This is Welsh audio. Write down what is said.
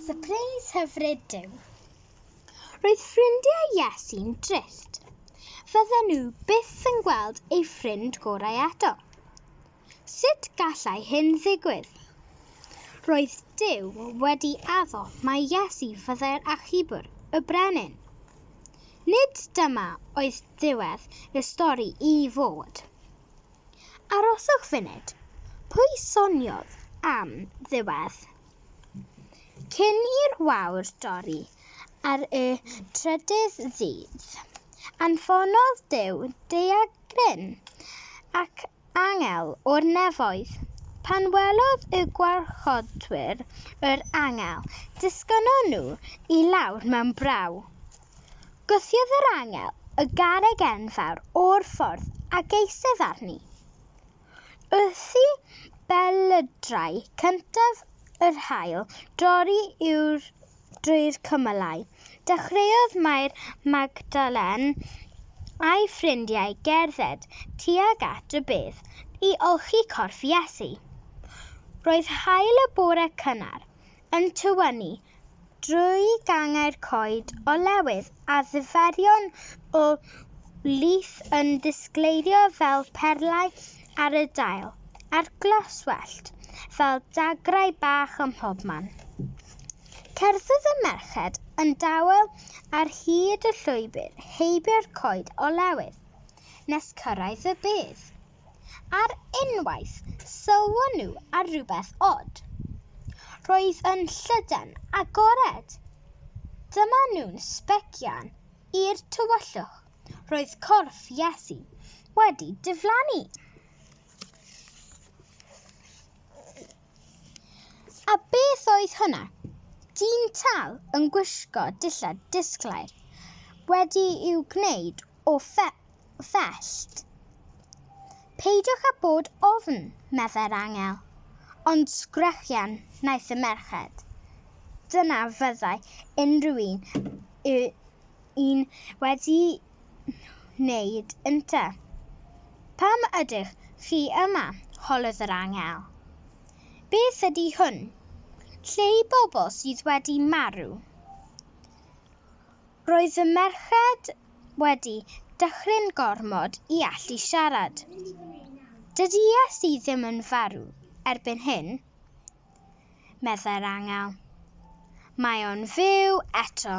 Sypreis hyfryd Duw. Roedd ffrindiau Iesu'n drist. Fydden nhw byth yn gweld ei ffrind gorau eto. Sut gallai hyn ddigwydd? Roedd Duw wedi addo mae Iesu fyddai'r achubwr, y brenin. Nid dyma oedd diwedd y stori i fod. Aroswch funud. Pwy soniodd am ddiwedd? Cyn i'r wawr dorri ar y trydydd ddydd, anfonodd Duw daeargryn ac angel o'r nefoedd. Pan welodd y gwarchodwyr yr angel, disgynnon nhw i lawr mewn braw. Gwthiodd yr angel y garreg enfawr o'r ffordd ac eistedd arni. Wrthi belydrau cyntaf yr haul dorri yw'r drwy'r cymylau, dechreuodd Mair Magdalen a'i ffrindiau gerdded tuag at y bedd i olchi corff Iesu. Roedd haul y bore cynnar yn tywynnu drwy gangau'r coed olewydd a ddiferion o lith yn disgleirio fel perlau ar y dail, a'r glaswellt fel dagrau bach ym mhobman. Cerddodd y merched yn dawel ar hyd y llwybr heibio'r coed olewydd, nes cyrraedd y bedd. Ar unwaith, sylwon nhw ar rywbeth od. Roedd yn llydan agored. Dyma nhw'n sbecian i'r tywyllwch. Roedd corff Iesu wedi diflannu. A beth oedd hwnna? Dyn tal yn gwisgo dillad disglair, wedi i'w gwneud o fellt. Peidiwch â bod ofn, meddai'r angel, ond sgrechian wnaeth y merched. Dyna fyddai unrhyw un y un wedi wneud ynte. Pam ydych chi yma? holodd yr angel. Beth ydy hwn? Lle i bobl sydd wedi marw? Roedd y merched wedi dychryn gormod i allu siarad. Dydy Iesu ddim yn farw erbyn hyn, meddai'r angel. Mae o'n fyw eto.